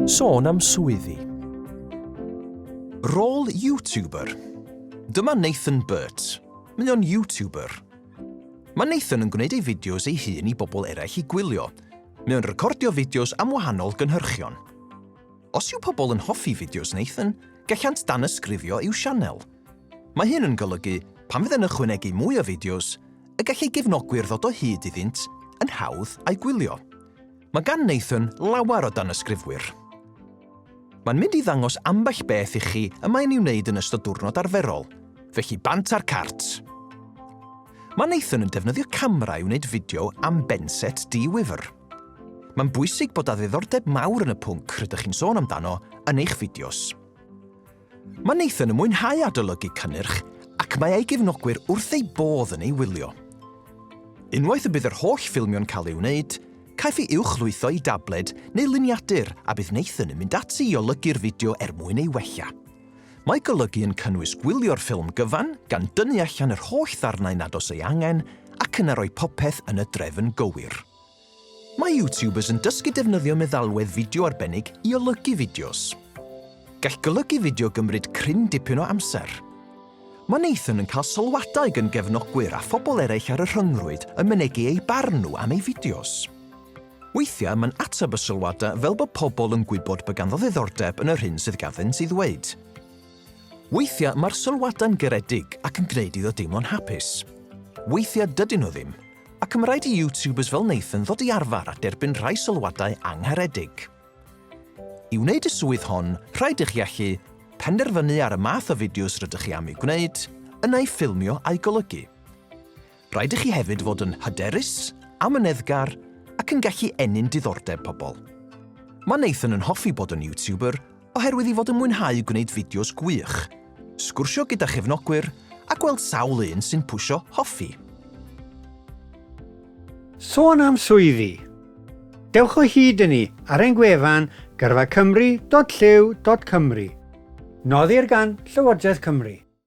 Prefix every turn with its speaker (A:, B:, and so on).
A: Sôn am swyddi. Rôl YouTuber. Dyma Nathan Burt. Mae o'n YouTuber. Mae Nathan yn gwneud ei fideos ei hun i bobl eraill i gwylio. Mae o'n recordio fideos am wahanol gynhyrchion. Os yw pobl yn hoffi fideos Nathan, gallant dan ysgrifio i'w sianel. Mae hyn yn golygu, pan fydd yn ychwanegu mwy o fideos, y gall ei gefnogwyr ddod o hyd iddynt yn hawdd a'i gwylio. Mae gan Nathan lawer o danysgrifwyr. Mae'n mynd i ddangos ambell beth i chi y mae'n ei wneud yn ystod diwrnod arferol, felly bant ar cart! Mae Nathan yn defnyddio camera i wneud fideo am Benset Dee Wifr. Mae'n bwysig bod â ddiddordeb mawr yn y pwnc rydych chi'n sôn amdano yn eich fideos. Mae Nathan yn mwynhau adolygu cynnyrch ac mae ei gefnogwyr wrth eu bodd yn ei wylio. Unwaith y bydd yr holl ffilmio'n cael ei wneud, caiff ei uwchlwytho i dabled neu luniadur a bydd Nathan yn mynd ati i olygu'r fideo er mwyn ei wella. Mae golygu yn cynnwys gwylio'r ffilm gyfan gan dynnu allan yr holl ddarnau nad oes ei angen ac yna rhoi popeth yn y drefn gywir. Mae YouTubers yn dysgu defnyddio meddalwedd fideo arbennig i olygu fideos. Gall golygu fideo gymryd cryn dipyn o amser. Mae Nathan yn cael sylwadau gan gefnogwyr a phobl eraill ar y rhyngrwyd yn mynegi eu barn nhw am ei fideos. Weithiau mae'n ateb y sylwadau fel bod pobl yn gwybod bod ganddo ddiddordeb yn yr hyn sydd ganddynt ei ddweud. Weithiau mae'r sylwadau'n garedig ac yn gwneud iddo deimlo'n hapus. Weithiau dydyn nhw ddim, Ac ma' raid i YouTubers fel Nathan ddod i arfar a derbyn rhai sylwadau angharedig. I wneud y swydd hon, rhaid i chi allu penderfynu ar y math o fideos rydych chi am eu gwneud, yna eu ffilmio a'u golygu. Rhaid i chi hefyd fod yn hyderus, amyneddgar ac yn gallu ennyn diddordeb pobl. Mae Nathan yn hoffi bod yn YouTuber oherwydd ei fod yn mwynhau gwneud fideos gwych, sgwrsio gyda chefnogwyr a gweld sawl un sy'n pwsio Hoffi.
B: Sôn am swyddi! Dewch o hyd i ni ar ein gwefan gyrfacymru.llyw.cymru. Noddir gan Llywodraeth Cymru.